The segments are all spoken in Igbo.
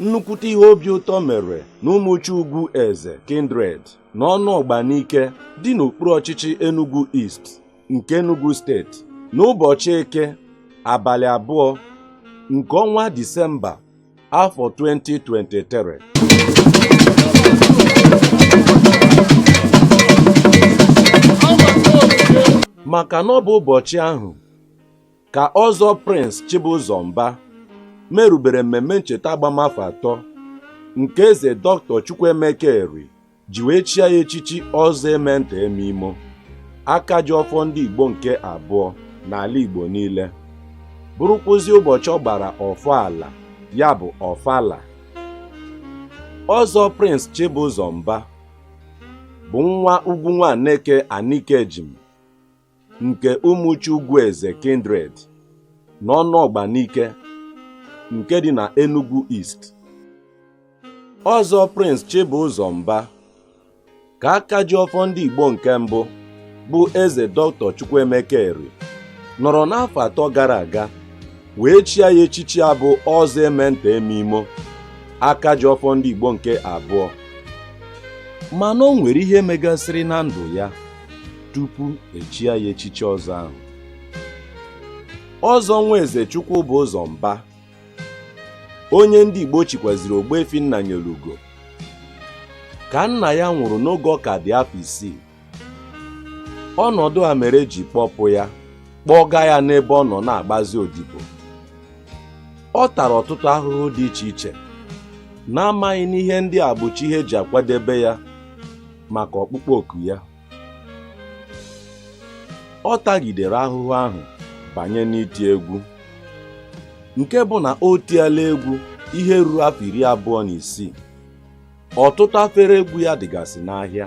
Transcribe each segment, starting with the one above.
nnukwute ihe obi ụtọ mere na ụmụchi ugwu eze kindred na ọnụọgba nike dị n'okpuru ọchịchị enugu east nke enugu steeti n'ụbọchị eke abalị abụọ nke ọnwa disemba afọ 2023 maka na ọ bụ ụbọchị ahụ ka ọzọ Prince Chibụzọ Mba merubere mmemme ncheta agbamafọ atọ nke eze Dr. Chukwuemeka Eri ji wee chie ya echichi ọzọ eme nta eme imo aka ji ọfọ ndị Igbo nke abụọ n'ala Igbo niile bụrụkwụzi ụbọchị ọ gbara ọfọ ala ya bụ ọfala ọzọ Prince Chibụzọ Mba bụ nwa ugwu Nwaneke Anikejim nke Ụmụchi Ugwueze Kindred n'Ọnụọgba Nike nke dị na Enugu East ọzọ Prince Chibụzọ Mba ka aka ji ọfọ ndị Igbo nke mbụ bụ eze Dr. Chukwuemeka Eri nọrọ n'afọ atọ gara aga wee chie ya echichi a bụ ọzọ eme nta eme imo aka ji ọfọ ndị Igbo nke abụọ mana o nwere ihe megasịrị na ndụ ya tupu e chie ya echichi ọzọ ahụ ọzọ nwa eze chukwubụzọ mba onye ndị igbo chikwaziri ogbuefi nnanyelugo ka nna ya nwụrụ n'oge ọ ka dị afọ isii ọnọdụ a mere e ji kpọpụ ya kpọga ya n'ebe ọ nọ na-agbazi odibo ọ tara ọtụtụ ahụhụ dị iche iche n'amaghị na ihe ndị a bụcha ihe e ji akwadebe ya maka ọkpụkpọ oku ya ọ tagidere ahụhụ ahụ banye n'iti egwu nke bụ na o tiela egwu ihe ruru afọ iri abụọ na isii ọtụtụ afere egwu ya dịgasị n'ahịa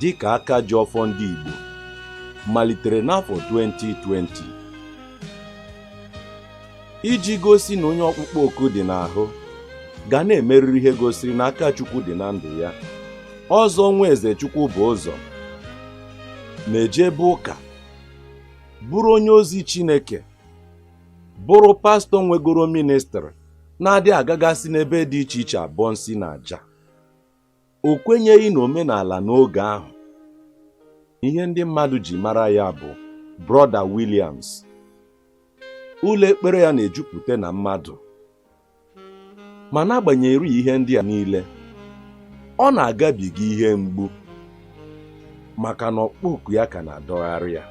dịka aka ji ọfọ ndị Igbo malitere n'afọ 2020 iji gosi na onye ọkpụkpọ oku dị n'ahụ ga na-emerịrị ihe gosiri na aka Chukwu dị na ndụ ya ọzọ nwa eze Chukwubụzọ na-ejebe ụka bụrụ onye ozi Chineke bụrụ pastọ nwegoro ministrị na-adị agagasị n'ebe dị iche iche abọ nsi na aja o kwenyeghị na omenala n'oge ahụ ihe ndị mmadụ ji mara ya bụ brọda Williams ụlọ ekpere ya na-ejupụta na mmadụ ma n'agbanyeghị ihe ndị a niile ọ na-agabiga ihe mgbu maka na ọkpụkpọ oku ya ka na-adọgharị ya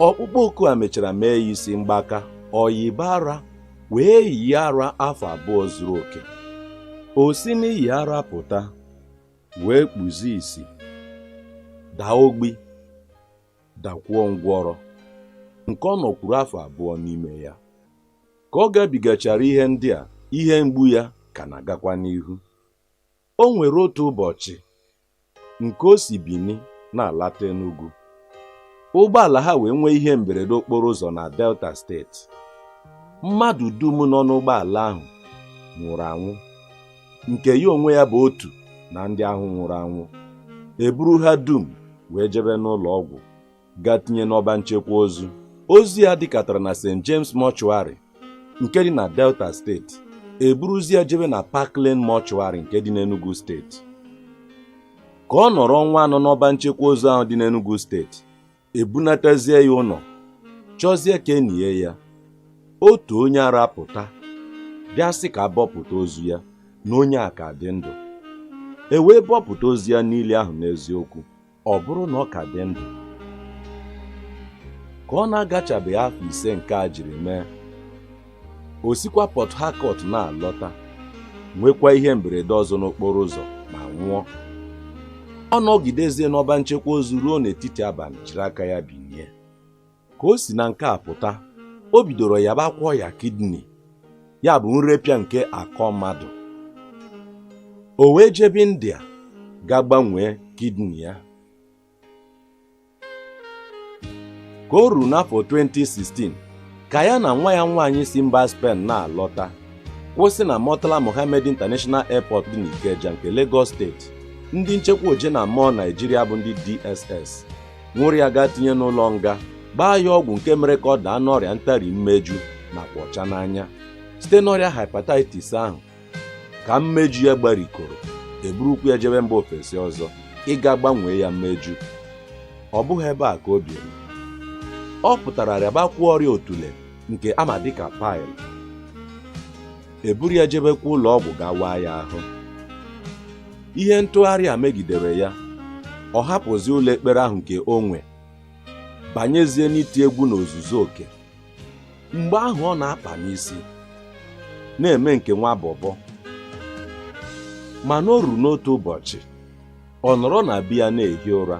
ọkpụkpọ oku a mechara mee ya isi mgbaka o yiba ara wee yie ara afọ abụọ zuru oke o si n'iyi ara pụta wee kpuzi isi daa ogbi dakwuo ngwọrọ nke ọ nọkwuru afọ abụọ n'ime ya ka ọ gabigachara ihe ndị a ihe mgbu ya ka na-agakwa n'ihu o nwere otu ụbọchị nke o si Bini na-alata Enugu ụgbọala ha wee nwee ihe mberede okporo ụzọ na Delta steeti mmadụ dum nọ n'ụgbọala ahụ nwụrụ anwụ nke ya onwe ya bụ otu na ndị ahụ nwụrụ anwụ e buru ha dum wee jebe n'ụlọ ọgwụ gaa tinye n'ọba nchekwa ozu ozu ya dịkatara na St James Mortuary nke dị na Delta steeti e buruzi ya jebe na Park Lane Mortuary nke dị n'Enugu steeti ka ọ nọrọ ọnwa anọ n'ọba nchekwa ozu ahụ dị n'Enugu steeti e bunatazie ya ụlọ chọzie ka e nie ya otu onye ara pụta bịa sị ka a bọpụta ozu ya na onye a ka dị ndụ e wee bọpụta ozu ya niile ahụ n'eziokwu ọ bụrụ na ọ ka dị ndụ ka ọ na-agachabeghị afọ ise nke a jiri mee o sikwa Port Harcourt na-alọta nwekwa ihe mberede ọzọ n'okporo ụzọ ma nwụọ ọ nọgidezie n'ọba nchekwa ozu ruo n'etiti abalị jiri aka ya binie ka o si na nke a pụta o bidoro yabakwuo ọya kidney ya bụ nrepịa nke akọ mmadụ o wee jebe India gaa gbanwee kidney ya ka o ruru n'afọ 2016 ka ya na nwa ya nwaanyị si mba Spain na-alọta kwụsị na Murtala Mohammed International Airport dị n'Ikeja nke Lagos steeti ndị nchekwa oje na mmụọ Naijiria bụ ndị DSS nwụrụ ya gaa tinye n'ụlọ nga gbaa ya ọgwụ nke mere ka ọ daa n'ọrịa ntari mmeju nakwa ọcha n'anya site n'ọrịa hepatitis ahụ ka mmeju ya gbarikọrọ e burukwu ya jebe mba ofesi ọzọ ịga gbanwee ya mmeju ọ bụghị ebe a ka o biri ọ pụtara rịabakwuo ọrịa otule nke a ma dịka pile eburu ya jebekwa ụlọ ọgwụ ga waa ya ahụ ihe ntụgharị a megidere ya ọ hapụzi ụlọ ekpere ahụ nke o nwe banyezie n'iti egwu n'ozuzu oke mgbe ahụ ọ na-akpa n'isi na-eme nke nwa bọbọ mana o ruru n'otu ụbọchị ọ nọrọ na be ya na-ehi ụra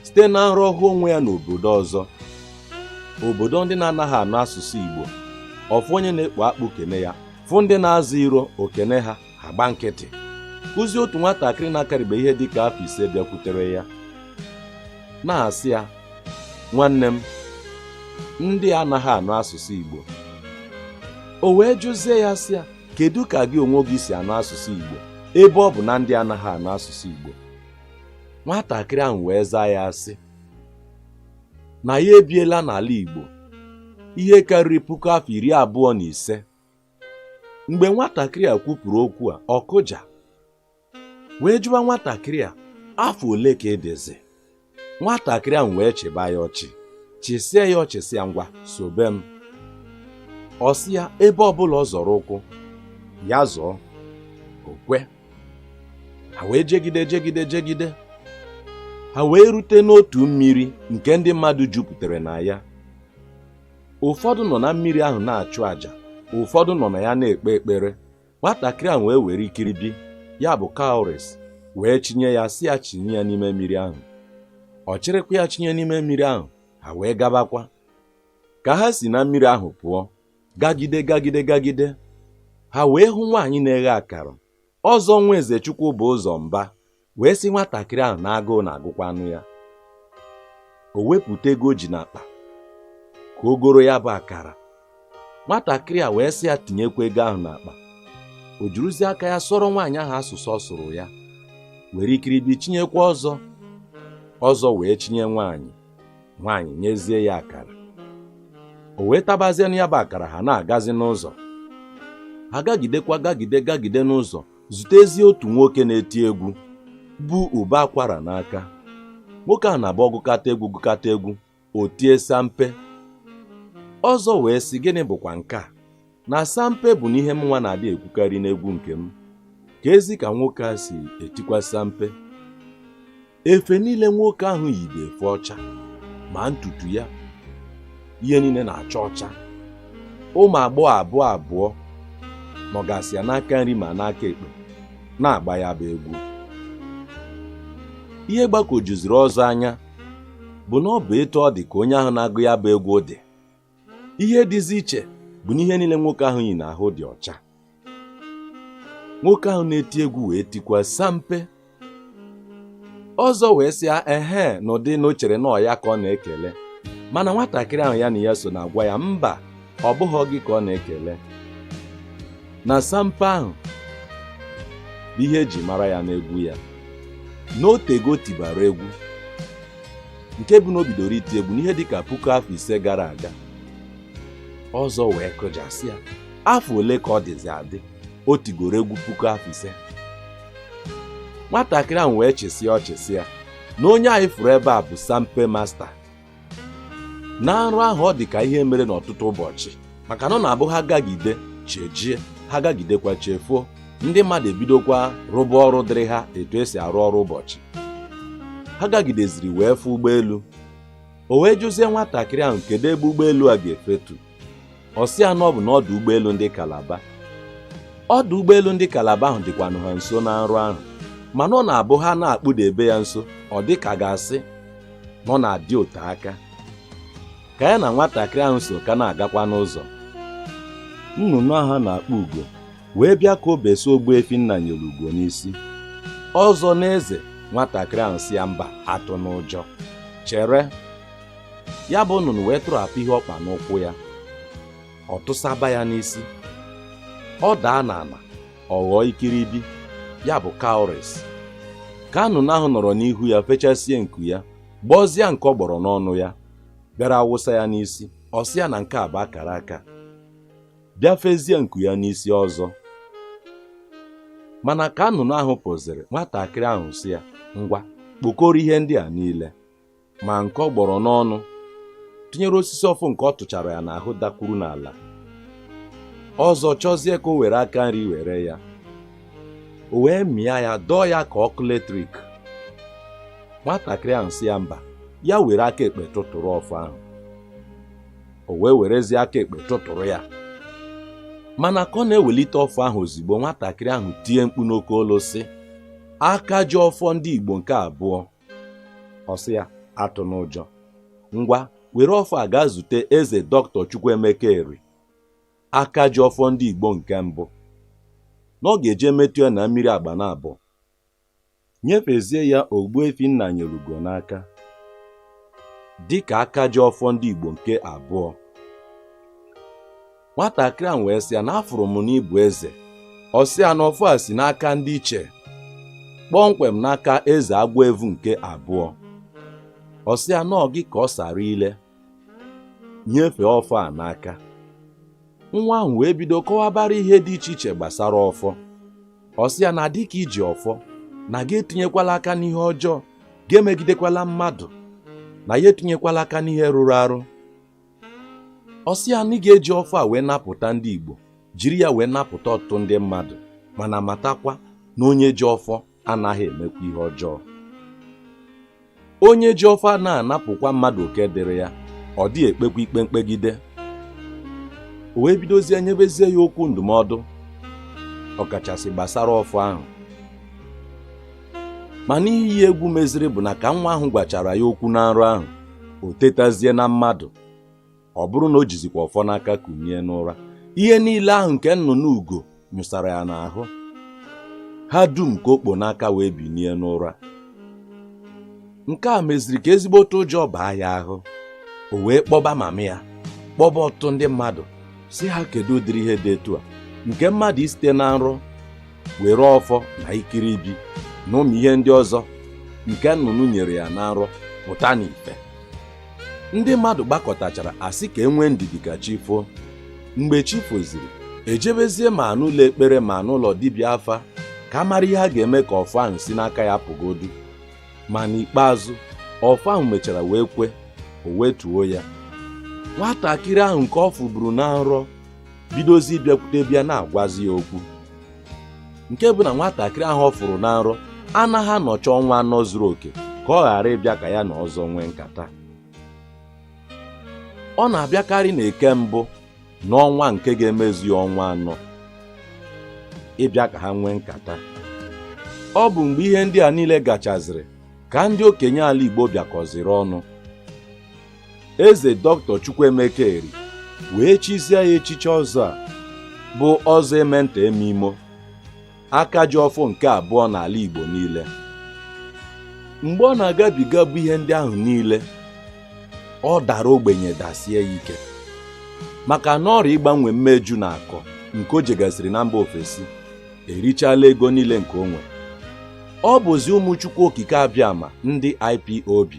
site na nrọ hụ onwe ya n'obodo ọzọ obodo ndị na-anaghị anụ asụsụ Igbo ọ fụ onye na-ekpo akpụ kene ya fụ ndị na-aza iro o kene ha agba nkịtị ọ bụzi otu nwatakịrị na-akarịbe ihe dịka afọ ise bịakwutere ya na-asị ya nwanne m ndị anaghị anụ asụsụ Igbo o wee jụzie ya sị ya kedu ka gị onwe gị si anụ asụsụ Igbo ebe ọ bụ na ndị anaghị anụ asụsụ Igbo nwatakịrị ahụ wee zaa ya sị na ya ebiela n'ala Igbo ihe karịrị puku afọ iri abụọ na ise mgbe nwatakịrị a kwupụrụ okwu a ọ kụja wee jụwa nwatakịrị a afọ ole ka ị dịzi nwatakịrị ahụ wee chịba ya ọchị chịsịa ya ọchị sị ya ngwa sobe m ọ sị ya ebe ọbụla ọ zọrọ ụkwụ ya zọọ o kwe ha wee jegide jegide jegide ha wee rute n'otu mmiri nke ndị mmadụ jupụtara na ya ụfọdụ nọ na mmiri ahụ na-achụ àjà ụfọdụ nọ na ya na-ekpe ekpere nwatakịrị ahụ wee were ikiribi ya bụ cowries wee chinye ya sị ya chinye ya n'ime mmiri ahụ ọ chịrịkwa ya chinye n'ime mmiri ahụ ha wee gabakwa ka ha si na mmiri ahụ pụọ gagide gagide gagide ha wee hụ nwaanyị na-eghe akara Ọzọ nwa Ezechukwu bụ ụzọ mba wee sị nwatakịrị ahụ na agụụ na-agụkwanụ ya o wepụta ego o ji n'akpa ka o goro ya bụ akara nwatakịrị a wee sị ya tinyekwa ego ahụ n'akpa o jiruzi aka ya sụọrọ nwaanyị ahụ asụsụ ọ sụrụ ya were ikiribi chinyekwa Ọzọ Ọzọ wee chinye nwaanyị nwaanyị nyezie ya akara o wee tabazienụ ya bụ akara ha na-agazi n'ụzọ ha gagidekwa gagide gagide n'ụzọ zutezie otu nwoke na-eti egwu bu ụbọ akwara n'aka nwoke a na-abụ ọ gụkata egwu gụkata egwu o tie sampe Ọzọ wee sị gịnị bụkwa nke a na sampe bụ na ihe mụnwa na-adị ekwukarị n'egwu nke m keezi ka nwoke a si etikwa sampe efe niile nwoke ahụ yi bụ efe ọcha ma ntutu ya ihe niile na-acha ọcha ụmụ agbọghọ abụọ abụọ nọgasị ya n'aka nri ma n'aka ekpe na-agba ya bụ egwu ihe gbagwojuziri Ọzọ anya bụ na ọ bụ etu ọ dị ka onye ahụ na-agụ ya bụ egwu dị ihe dịzi iche bụ na ihe niile nwoke ahụ yi n'ahụ dị ọcha nwoke ahụ na-eti egwu wee tikwa sampe ọzọ wee sị ya ehe n'ụdị na o chere na ọ ya ka ọ na-ekele mana nwatakịrị ahụ ya na ya so na-agwa ya mba ọ bụghị gị ka ọ na-ekele na sampe ahụ bụ ihe eji mara ya n'egwu ya na o tego tibara egwu nke bụ na o bidoro iti egwu n'ihe dị ka puku afọ ise gara aga ọzọ wee kụja sị ya afọ ole ka ọ dịzi adị o tigoro egwu puku afọ ise nwatakịrị ahụ wee chịsịa ọchị sị ya na onye anyị fụrụ ebe a bụ sampe masta na nrọ ahụ ọ dị ka ihe mere n'ọtụtụ ụbọchị maka na ọ na-abụ ha gagide chi ejie ha gagidekwa chi efo ndị mmadụ ebidokwa rụba ọrụ dịrị ha etu esi arụ ọrụ ụbọchị ha gagideziri wee fụ ụgbọelu o wee jụzie nwatakịrị ahụ kedu ebe ụgbọelu a ga-efetu ọ sị ya na ọ bụ n'ọdụ ụgbọelu ndị kalaba ọdụ ụgbọelu ndị kalaba ahụ dịkwanụ ha nso na nrọ ahụ mana ọ na-abụ ha na-akpụdebe ya nso ọ dị ka a ga-asị na ọ na-adị ote aka ka ya na nwatakịrị ahụ so ka na-agakwa n'ụzọ nnụnụ ahụ a na-akpọ ugo wee bịa ka o besa Ogbuefi Nnanyereugo n'isi ọzọ na-eze nwatakịrị ahụ sị ya mba atụna ụjọ chere ya bụ nnụnụ wee tụrapụ ihe ọ kpa n'ụkwụ ya ọ tụsaba ya n'isi ọ daa n'ala ọ ghọọ ikiribi ya bụ cowries ka nnụnụ ahụ nọrọ n'ihu ya fechasie nku ya gbọzie nke ọ gbọrọ n'ọnụ ya bịara awụsa ya n'isi ọ sị ya na nke a bụ akara aka bịa fezie nku ya n'isi ọzọ mana ka nnụnụ ahụ pụziri nwatakịrị ahụ sị ya ngwa kpokọrọ ihe ndị a niile ma nke ọ gbọrọ n'ọnụ tinyere osisi ọfọ nke ọ tụchara ya n'ahụ dakwuru n'ala ọzọ chọzie ka o were aka nri were ya o wee mịa ya dọọ ya ka ọkụ letrik nwatakịrị ahụ sị ya mba ya were aka ekpe tụtụrụ ọfọ ahụ o wee werezie aka ekpe tụtụrụ ya mana ka ọ na-ewelite ọfọ ahụ ozigbo nwatakịrị ahụ tie mkpu n'oke olu sị aka ji ọfọ ndị Igbo nke abụọ ọ sị ya atụna ụjọ ngwa were ọfọ a gaa zute eze doctor Chukwuemeka Eri aka ji ọfọ ndị Igbo nke mbụ na ọ ga-eje metụ ya na mmiri Agbanabọ nyefezie ya Ogbuefi Nnanyelugo n'aka dịka aka ji ọfọ ndị Igbo nke abụọ nwatakịrị ahụ wee sị ya na afụrụ m n'ịbụ eze ọ sị ya na ọfọ a si n'aka ndị ichie kpọmkwem n'aka eze agwọ evu nke abụọ ọ sị ya na ọ gị ka ọ sara ile nyefee ọfọ a n'aka nwa ahụ wee bido kọwabara ihe dị iche iche gbasara ọfọ ọ sị ya na dịka i ji ọfọ na gị etinyekwala aka n'ihe ọjọọ gị emegidekwala mmadụ na gị etinyekwala aka n'ihe rụrụ arụ ọ sị ya na ị ga-eji ọfọ a wee napụta ndị Igbo jiri ya wee napụta ọtụtụ ndị mmadụ mana matakwa na onye ji ọfọ anaghị emekwa ihe ọjọọ onye ji ọfọ na-anapụkwa mmadụ oke dịrị ya ọ dị ekpekwa ikpe mkpegide o wee bidozie nyebezie ya okwu ndụmọdụ ọkachasị gbasara ọfọ ahụ mana ihe yi egwu meziri bụ na ka nwa ahụ gwachara ya okwu na nrọ ahụ o tetazie na mmadụ ọ bụrụ na o jizikwa ọfọ n'aka kunie n'ụra ihe niile ahụ nke nnụnụ ugo nyụsara ya n'ahụ ha dum ka o kpo n'aka wee binie n'ụra nke a meziri ka ezigbote ụjọ baa ya ahụ o wee kpọba mama ya kpọba ọtụtụ ndị mmadụ sị ha kedu ụdịrị ihe dị etu a nke mmadụ isite na nrọ were ọfọ na ikiribi na ụmụ ihe ndị ọzọ nke nnụnụ nyere ya na nrọ pụta n'ife ndị mmadụ gbakọtachara a sị ka e nwee ndidi ka chi foo mgbe chi foziri e jebezie ma n'ụlọ ekpere ma n'ụlọ dibịa afa ka a mara ihe a ga-eme ka ọfọ ahụ si n'aka ya pụgodu ma n'ikpeazụ ọfọ ahụ mechara wee kwe o wetuo ya nwatakịrị ahụ nke ọ fụburu na nrọ bidozie bịakwutebe ya na-agwazi ya okwu nke bụ na nwatakịrị ahụ ọ fụrụ na nrọ anaghị anọcha ọnwa anọ zuru oke ka ọ ghara ịbịa ka ya na ọzọ nwee nkata ọ na-abịakarị na eke mbụ n'ọnwa nke ga-emezu ya ọnwa anọ ịbịa ka ha nwee nkata ọ bụ mgbe ihe ndị a niile gachaziri ka ndị okenye ala Igbo bịakọziri ọnụ eze dọktọ Chukwuemeka Eri wee chizie ya echichi ọzọ a bụ ọzọ eme nta eme imo aka ji ọfọ nke abụọ n'ala Igbo niile mgbe ọ na-agabigabu ihe ndị ahụ niile ọ dara ogbenye dasie ya ike maka na ọrịa ịgbanwe mmeju na akọ nke o jegasịrị na mba ofesi erichala ego niile nke o nwere ọ bụzi ụmụ Chukwu Okike Abịama ndị IPOB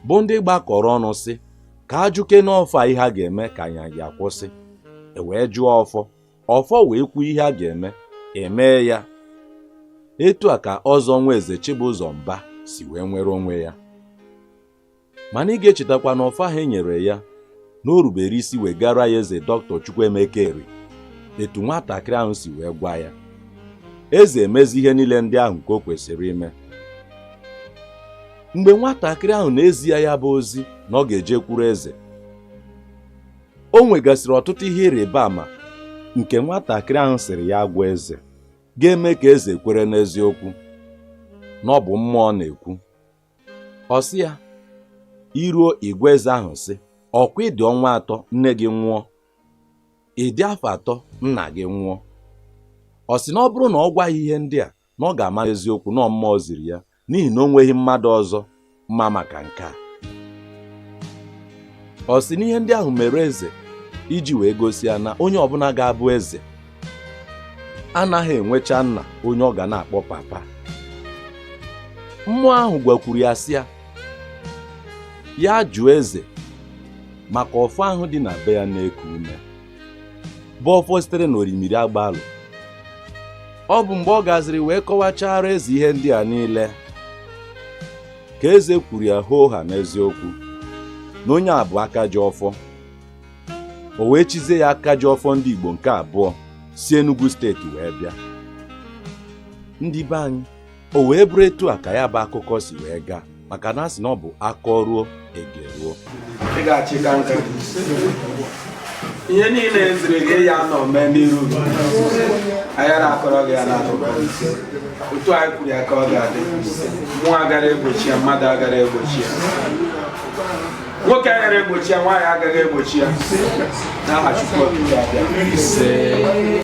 bụ ndị gbakọrọ ọnụ sị ka a jụkene ọfọ a ihe a ga-eme ka anya ya kwụsị e wee jụọ ọfọ ọfọ wee kwuo ihe a ga-eme emee ya etu a ka Ọzọ Nwaeze Chibụzọ Mba si wee nwere onwe ya mana ị ga-echetakwa na ọfọ ahụ e nyere ya na o rubere isi wee gara ya eze dọktọ Chukwuemeka Eri etu nwatakịrị ahụ si wee gwa ya eze emezie ihe niile ndị ahụ nke o kwesịrị ime mgbe nwatakịrị ahụ na-ezi ya ya bụ ozi na ọ ga-ejekwuru eze o nwegasịrị ọtụtụ ihe ịrịba ama nke nwatakịrị ahụ sịrị ya gwa eze ga-eme ka eze kwere n'eziokwu na ọ bụ mmụọ na-ekwu ọ sị ya i ruo ị gwa eze ahụ sị ọ kwa ị dị ọnwa atọ nne gị nwụọ ị dị afọ atọ nna gị nwụọ ọ sị na ọ bụrụ na ọ gwa ya ihe ndị a na ọ ga-ama eziokwu na mmụọ ziri ya n'ihi na o nweghị mmadụ ọzọ ma maka nke a ọ sị na ihe ndị ahụ mere eze iji wee gosi ya na onye ọbụla ga-abụ eze anaghị enwecha nna onye ọ ga na-akpọ papa mmụọ ahụ gwakwuru ya sị ya ya jụọ eze maka ọfọ ahụ dị na be ya na-eku ume bụ ọfọ sitere n'orimiri agbalụ ọ bụ mgbe ọ gaziri wee kọwachara eze ihe ndị a niile ka eze kwuru ya hoohaa n'eziokwu na onye a bụ aka ji ọfọ o wee chizie ya aka ji ọfọ ndị Igbo nke abụọ si Enugu steeti wee bịa ndị be anyị o wee bụrụ etu a ka ya bụ akụkọ si wee gaa maka na a sị na ọ bụ a kọruo e geruo ị ga-achịkọ ihe niile e ziri gị ya nọ mee n'iru agara akọrọ gị ya n'akụkọ otu anyị kwuru ya ka ọ ga-adị mmụọ agara egbochi ya mmadụ agara egbochi ya nwoke agara egbochi ya nwaanyị agaghị egbochi ya n'aha Chukwu Okike abịa